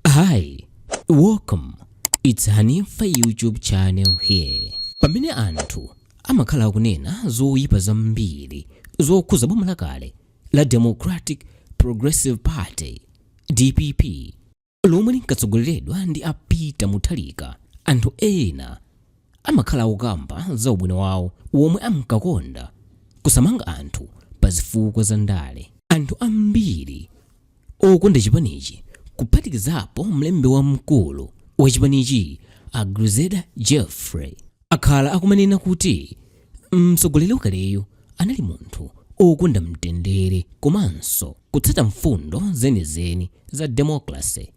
Hi, welcome. It's Hanifa YouTube channel here. Pamene anthu amakhala akunena zoyipa zambiri zokhuza boma lakale la Democratic Progressive Party DPP lomwe linkatsogoleredwa ndi a Peter Mutharika, anthu ena amakhala akukamba za ubwino wawo womwe amkakonda kusamanga anthu pa zifukwa za ndale. Anthu ambiri Okonda chipanichi kuphatikizapo mlembi wamkulu wa chipanichi a Grezelder Jeffrey akhala akumanena kuti mtsogoleri wakaleyu anali munthu okonda mtendere komanso kutsata mfundo zenizeni za democracy.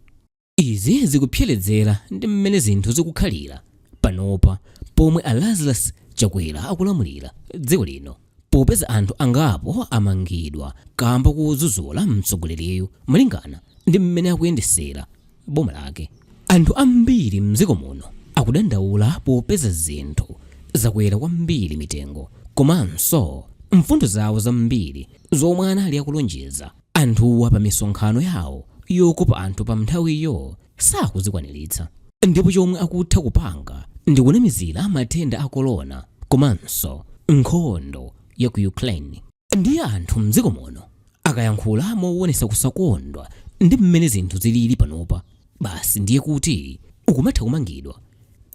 Izi zikupherezera ndi mmene zinthu zikukhalira panopa pomwe a Lazarus Chakwera akulamulira dziko lino popeza anthu angapo amangidwa kamba kodzudzula mtsogoleriyu malingana ndi mmene akuyendetsera boma lake. Anthu ambiri mdziko muno akudandaula popeza zinthu zakwera kwambiri mitengo komanso mfundo zawo zambiri zomwe anali akulonjeza Anthuwa pa misonkhano yawo yokopa anthu pa nthawiyo sakuzikwaniritsa ndipo chomwe akutha kupanga ndikunamizira matenda a kolona komanso nkhondo ya ku Ukraine. Ndiye anthu mdziko muno akayankhula mowonetsa kusakondwa ndi mmene zinthu ziliri panopa, basi ndiye kuti ukumatha kumangidwa,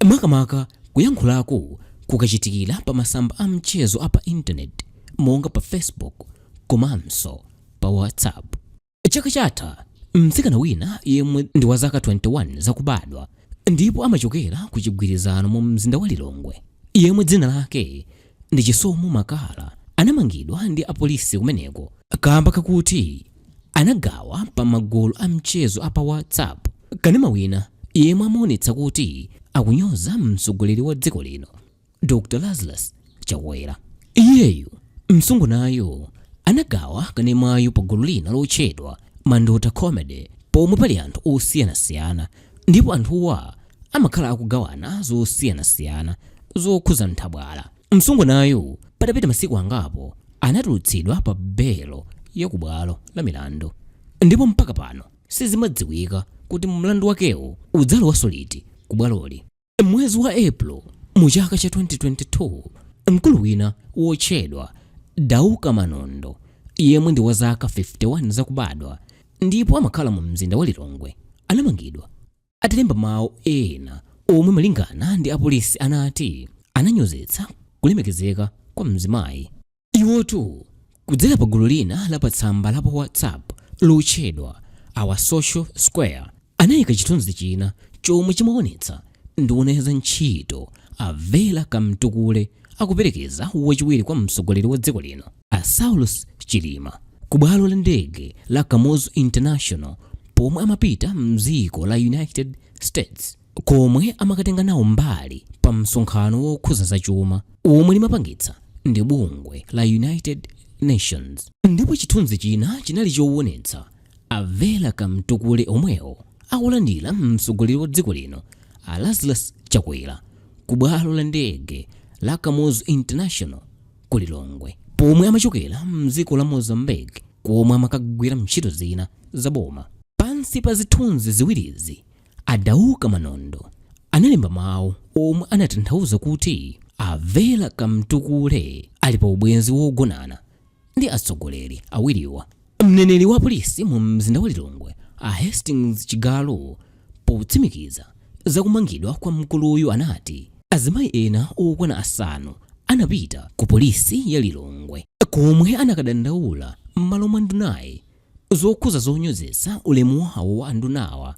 makamaka kuyankhulako kukachitikira pa masamba a mchezo a pa internet monga pa Facebook komanso pa WhatsApp. Chaka chatha, mtsikana wina yemwe ndi wa zaka 21 zakubadwa ndipo amachokera ku Chigwirizano mu mzinda wa Lilongwe, yemwe dzina lake ndi Chisomo Makala anamangidwa ndi apolisi kumeneko kamba kakuti anagawa pa magulu a mchezo a pa WhatsApp kanema wina yemwe amaonetsa kuti akunyoza mtsogoleri wa dziko lino Dr. Lazarus Chakwera. Iyeyu msungwanayo anagawa kanemayu pa gulu lina lotchedwa Mandota Comedy pomwe pali anthu osiyanasiyana ndipo anthuwa amakhala akugawana zosiyanasiyana zokhuza nthabwala. Msungwanayu patapita masiku angapo anatulutsidwa pa belo ya ku bwalo la milandu ndipo mpaka pano sizimadziwika kuti mlandu wakewu udzalowanso liti ku bwaloli. Mmwezi wa April mu chaka cha 2022, mkulu wina wotchedwa Dauka Manondo yemwe ndi wa zaka 51 zakubadwa ndipo amakhala mu mzinda wa Lilongwe anamangidwa atalemba mawu ena omwe malingana ndi apolisi anati ananyozetsa kulemekezeka kwa mzimayi. Iwotu kudzera pa gulu lina la patsamba la pa WhatsApp lotchedwa Our Social Square anaika chithunzi china chomwe chimaonetsa nduna ya za ntchito a Vera Kamtukule akuperekeza wachiwiri kwa mtsogoleri wa dziko lino a Saulos Chilima ku bwalo la ndege la Kamuzu International pomwe amapita m'dziko la United States. komwe amakatenga nawo mbali pa msonkhano wokhuza za chuma omwe limapangitsa ndi bungwe la United Nations. Ndipo chithunzi china chinali chowonetsa a Vera Kamtukule omwewo akulandira mtsogoleri wa dziko lino a Lazarus Chakwera ku bwalo la ndege la Kamuzu International ku Lilongwe pomwe amachokera mdziko la Mozambique komwe amakagwira ntchito zina za boma. Pansi pa zithunzi ziwirizi A Dauka Manondo analemba mawu omwe anatanthauza kuti a Vera Kamtukule ali pa ubwenzi wogonana ndi atsogoleri awiriwa. Mneneri wa polisi mu mzinda wa Lilongwe a Hastings Chigalu potsimikiza za kumangidwa kwa mkuluyu anati azimayi ena okwana asanu anapita ku polisi ya Lilongwe komwe anakadandaula m'malo mwa ndunayi zokhuza zonyozetsa ulemu wawo wa andunawa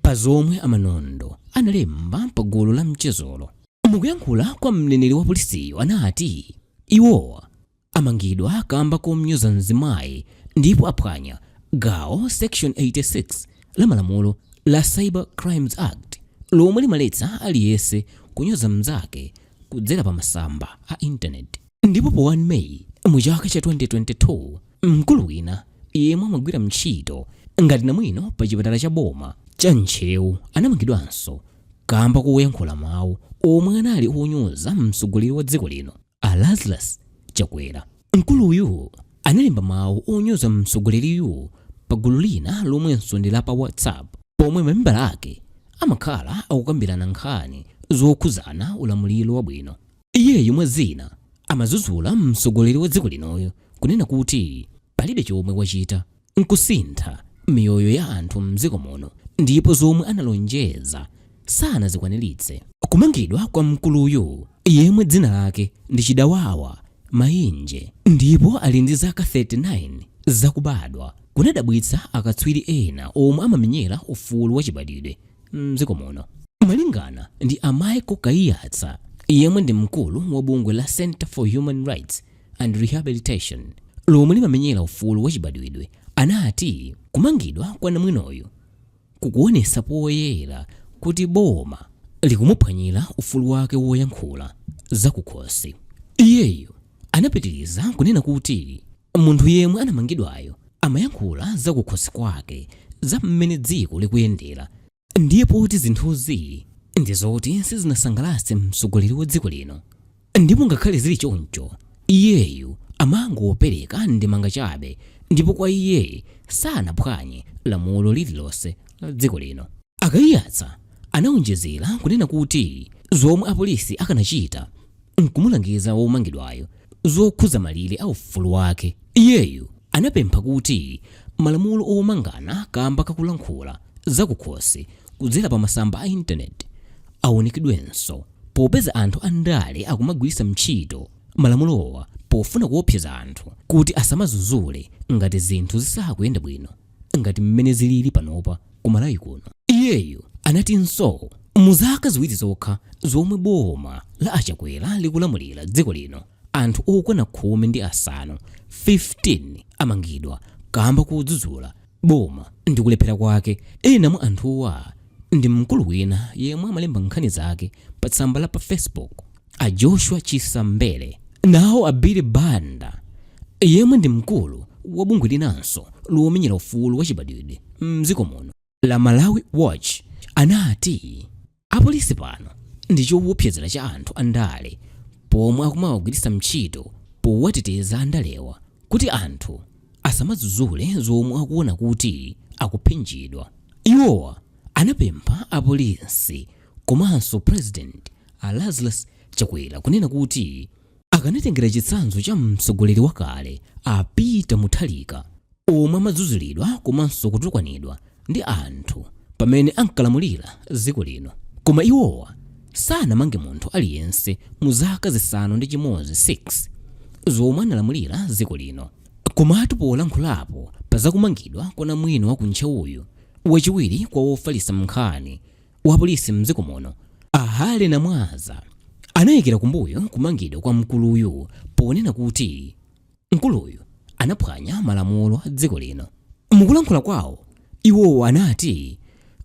pa zomwe a Manondo analemba pa gulu la mchezolo. Mukuyankhula kwa mneneri wa polisiyu anati iwowa amangidwa kamba komnyoza mzimayi ndipo aphwanya gawo section 86 la malamulo la Cyber Crimes Act lomwe limaletsa aliyese kunyoza mnzake kudzera pa masamba a internet ndipo pa 1 May mu chaka cha 2022, Mkulu wina yemwe amagwira ntchito ngati namwino pa chipatala cha boma cha Ntcheu anamangidwanso kamba koyankhula mawu omwe anali onyoza mtsogoleri wa dziko lino a Lazarus Chakwera. Mkuluyu analemba mawu onyoza mtsogoleriyu pa gulu lina lomwenso ndi la pa WhatsApp pomwe mamembala ake amakhala akukambirana nkhani zokhudzana ulamuliro wabwino. Iyeyu mwa zina amadzudzula mtsogoleri wa dziko linoyu kunena kuti palibe chomwe wachita nkusintha miyoyo ya anthu mdziko muno ndipo zomwe analonjeza sanazikwaniritse. Kumangidwa kwa mkuluyu yemwe dzina lake ndi Chidawawa Mainje ndipo ali ndi zaka 39 zakubadwa kunadabwitsa akatswiri ena omwe amamenyera ufulu wachibadwidwe. m'dziko muno. Malingana ndi a Michael Kaiyatsa yemwe ndi mkulu wa bungwe la Centre for Human Rights and Rehabilitation lomwe limamenyera ufulu wachibadwidwe anati kumangidwa kwa namwinoyu kukuonetsa poyera kuti boma likumuphwanyira ufulu wake woyankhula zakukhosi. Iyeyo anapitiriza kunena kuti Munthu yemwe anamangidwayo amayankhula za kukhosi kwake za mmene dziko likuyendera ndiye poti zinthuzi ndi zoti sizinasangalatse mtsogoleri wa dziko lino ndipo ngakhale zili choncho iyeyu amangopereka ndemanga chabe ndipo kwa iye sanaphwanye lamulo lililonse la dziko lino. A Kaiyatsa anaonjezera kunena kuti zomwe apolisi akanachita n'kumulangiza womangidwayo zokhudza malire a ufulu wake. Iyeyu anapempha kuti malamulo omangana kamba ka kulankhula zakukhosi kudzera pa masamba a Intaneti aunikedwenso, popeza anthu a ndale akumagwiritsa ntchito malamulowa pofuna kuopseza anthu kuti asamadzudzule ngati zinthu zisakuyenda bwino. ngati mmene zilili panopa ku Malawi kuno. Iyeyu anatinso mu zaka ziwiri zokha zomwe boma la a Chakwera likulamulira dziko lino, anthu okwana khumi ndi asanu 15 amangidwa kamba kodzudzula boma ndi kulephera kwake. Ena mwa anthuwa ndi mkulu wina yemwe amalemba nkhani zake pa tsamba la pa Facebook. A Joshua Chisa Mbele nawo a Billy Banda yemwe ndi mkulu wa bungwe linanso lomenyera ufulu wachibadwidwe m'dziko muno la Malawi Watch anati apolisi pano ndi chowopsezera cha anthu andale pomwe akumawagwiritsa ntchito powateteza andalewa kuti anthu asamadzudzule zomwe akuona kuti akuphinjidwa. Iwowa anapempha apolisi Komanso President a Lazarus Chakwera kunena kuti akanatengera chitsanzo cha mtsogoleri wakale a Peter Mutharika omwe amadzudzulidwa komanso kutukwanidwa ndi anthu pamene ankalamulira dziko lino. Koma iwowa sanamange munthu aliyense mu zaka zisanu ndi chimodzi 6 zomwe analamulira dziko lino. Komatu polankhulapo pa zakumangidwa kwa namwino wa ku Ntcheuyu, wachiwiri kwa wofalitsa nkhani wapolisi mdziko muno a Harry Namwaza anayikira kumbuyo kumangidwa kwa mkuluyu ponena kuti mkuluyu anaphwanya malamulo a dziko lino mukulankhula kwawo iwowo anati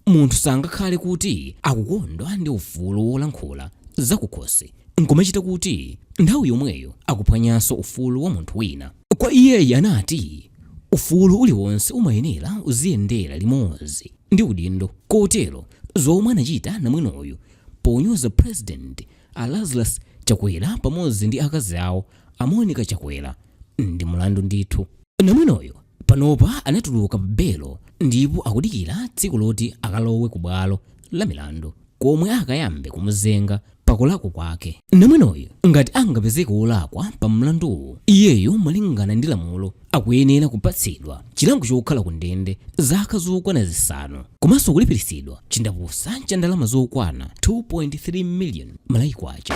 munthu sangakhale kuti akukondwa ndi ufulu wolankhula zakukhosi nkumachita kuti nthawi yomweyo akuphwanyanso ufulu wa munthu wina Kwa iyeyu anati, Ufulu uliwonse umayenera uziyendera limodzi ndi udindo. Kotero zomwe anachita namwinoyu ponyoza President a Lazarus Chakwera pamodzi ndi akazi awo a Monica Chakwera ndi mulandu ndithu. Namwinoyu panopa anatuluka pa belo ndipo akudikira tsiku loti akalowe ku bwalo la milandu komwe akayambe kumuzenga pa kulakwa kwake. Namwinoyu ngati angapezeke wolakwa pa mlanduwu, iyeyo malingana ndi lamulo akuyenera kupatsidwa chilango chokhala ku ndende zaka zokwana zisanu komanso kulipiritsidwa chindapusa cha ndalama zokwana 2.3 miliyoni Malawi Kwacha.